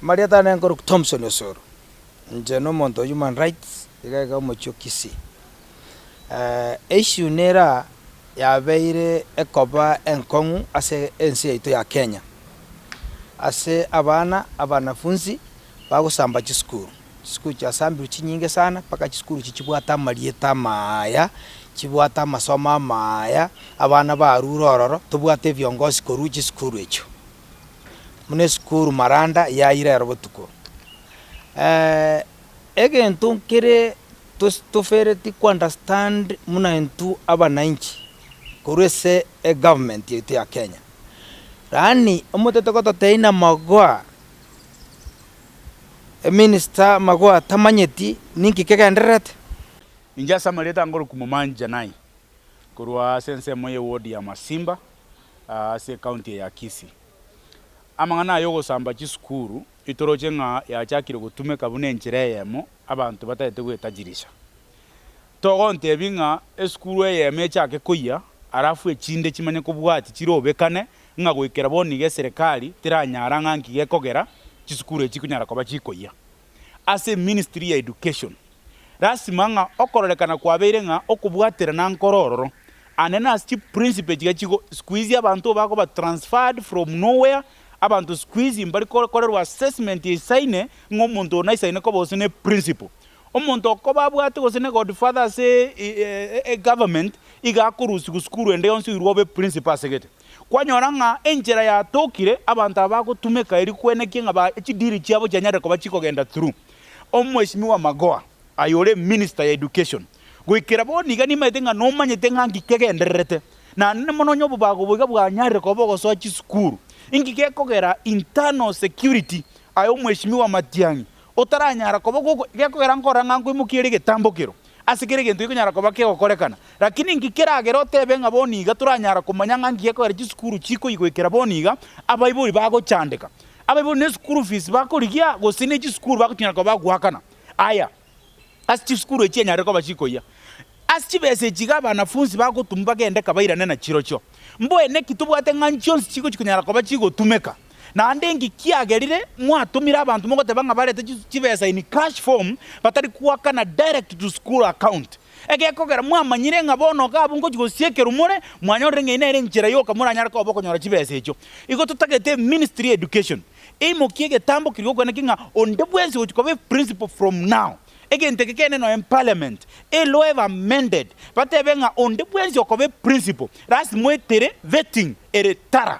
Mariata nare nkorokwa Thompson Osoro, inche nomonto o human rights iga iga omochie o Kisii. Eissue nera yabeire ekoba enkong'u ase ense yaito ya Kenya, ase abana abanafunzi bagosamba chisukuru, chisukuru chiasambirwe chinyinge sana mpaka chisukuru echi chibwate amarieta amaya, chibwate amasomo amaya, abana barure ororo, tobwate ebiongosi korwa chisukuru echio. buna esukuru maranda yaira ero botuko. Egento nkere tofereti ko understand buna intwe abananchi korwa ase egovernment yaito ya Kenya, yaani omotete gototeina magoa, eminister magoa tamanyeti ninki kegendererete. Inche ase amarieta nkorokwa Momanyi Janai, korwa ase ensemo ye ward ya Masimba. ase ekaunti eye ya Kisii. Amang'ana aya ogosamba chisukuru itoroche ng'a yachakire gotumeka buna enchera eyemo abanto batagete gwetajirisha. Togontebia ng'a esukuru eyemo echake koyia alafu echinde chimanye kobwati chirobekane ng'a goikera bono iga eserekari teranyara ng'a nki gekogera chisukuru echi chikonyara koba chikoyia. ase ministry ya education, lasima ng'a okororekana kwabeire ng'a okobwaterana nkoro ororo, and then ase chi principle chiga chigo sikuizi abanto bakoba transferred from nowhere, abanto sikuizi mbari korerwa assessment eisaine ng'a omonto oyo naisaine koba gose ne principle. Omonto okoba abwate gose ne godfather ase government iga akorusigwa sukuru ende yonsi oirwe obe principle asegete. Kwanyora ng'a enchera yatokire, abanto aba bagotumeka erio kwenekia ng'a ba chidiri chiabo chianyarire koba chikogenda through Omweshimiwa Magoha aye ore minister ya education. Goikera bono iga nimaete ng'a nomanyete ng'a nki kegendererete. Naende mono onye obobago obo iga bwanyarire koba ogosoa chisukuru, inki gekogera internal security aye Omweshimiwa Matiang'i otaranyara koba gekogera nkora ng'a nkoimokia ere egetambokero Ase kera egento gekonyara koba kegokorekana, lakini inki keragere otebe ng'a bono iga toranyara komanya ng'a nki gekogera chisukuru chikoigoikera bono iga abaibori bagochandeka, abaibori ne school fees bakorigia gose ne chisukuru bagotinyana koba bagoakana? Aya, ase chisukuru echi enyarire koba chikoyia ase chibesa echi iga abanafunsi bagotumwa bagende kabairane nachirochio. Mboene ki tobwate ng'a nchionsi chigo chikonyara koba chigotumeka? Naende inki kiagerire mwatumire abanto mogoteba ng'a barete chibesa in cash form batari goakana direct to school account? Egekogera mwamanyire ng'a bono iga abwo ngochia gosiekerwa more, mwanyorire ng'a eye nere enchera yoka moranyare koba okonyora chibesa echio. Igo totagete eministry ya education eimokie egetambo keria gokwana ki ng'a onde bwensi ogochia koba eprinciple from now. Egento eke kegende nonya parliament eloe ebe amended batebe ng'a onde bwensi okoba eprinciple lasima oetere vetting ere tara.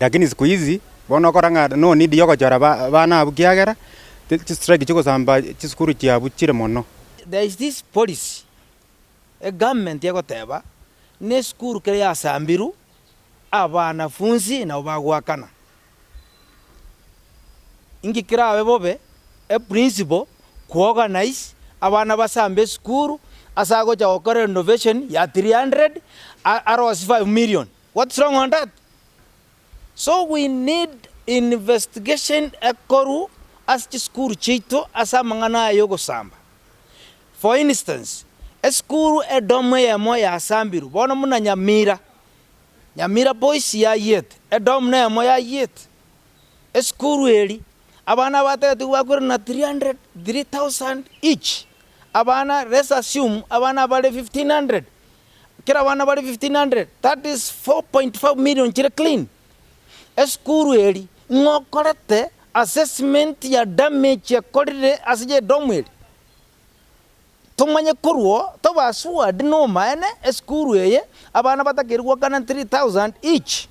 Lakini siku hizi bono ogokora ng'a nonidi yogochora ba abana abwo ekiagera ch chistrike chigosamba chisukuru chiabu chire mono. There is this policy egovernment egoteba nesukuru kere yasambiru abanafunzi nabo bagoakana. Inki kerabe bobe eprinciple kuorganise abana basambe esukuru ase agocha gokora renovation ya three hundred arosie five million What's wrong on that? So we need investigation ekorwa ase chisukuru chiaito ase amang'ana aya y'ogosamba. For instance, esukuru edomu eyemo yasambirwe bono buna Nyamira. Nyamira Boys yayiete, edomu neyemo yayiete. Esukuru eri, abana abatagete bakwire na 300, 3,000 each. Abana, let's assume abana bare 1,500, Kera abana bare 1,500, that is 4.5 million chire clean. Esukuru eri ng'a okorete assessment ya damage ekorire ase edomu eri? Tomanye korwo tobe assured nomaene esukuru eye abana batakeire goakana 3,000 each.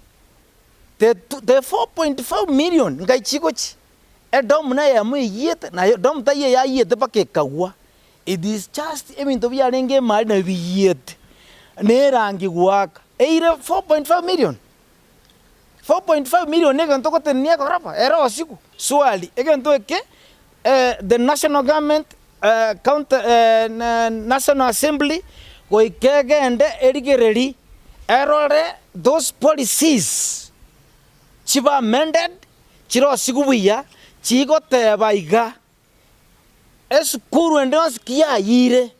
The 4.5 million ngai chigochi? Edomu neyemo eyiyete, na edomu taiyo eyayiyete mpaka ekagwa. It is just ebinto biarenge emari nabio biyiete ne erangi goaka eire 4.5 million. 4.5 million ne egento togotenenia egorofa ere osiku. Swali, egento eke the national government county national assembly goika egende erigereri erore those policies chibe amended chire osiku buya chigoteba iga. Esukuru ende yonsi kiyayiire,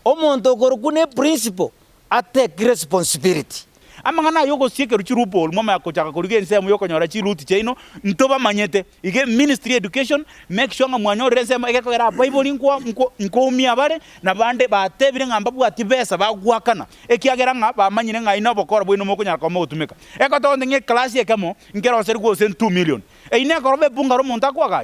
omonto okorokwa ne principal atake responsibility. Amang'ana aya ogosia ekerochi loophole mwamanya gochaka korigia ensemo yokonyora chiruuti chiaino ntobamanyete. Iga eministry ya education make sure ng'a mwanyorire ensemo egekogera abaibori nkwa nkwa nkoumia abare nabande batebire ng'a mbabwatie besa bagwakana ekiagera ng'a bamanyire ng'ai nobokora bwaino mokonyara koba mogotumeka. Ekotonte ng'a eclass ekemo nkeroserigwe gose two million. Eyio nekoroba ebunga romonto akoagache.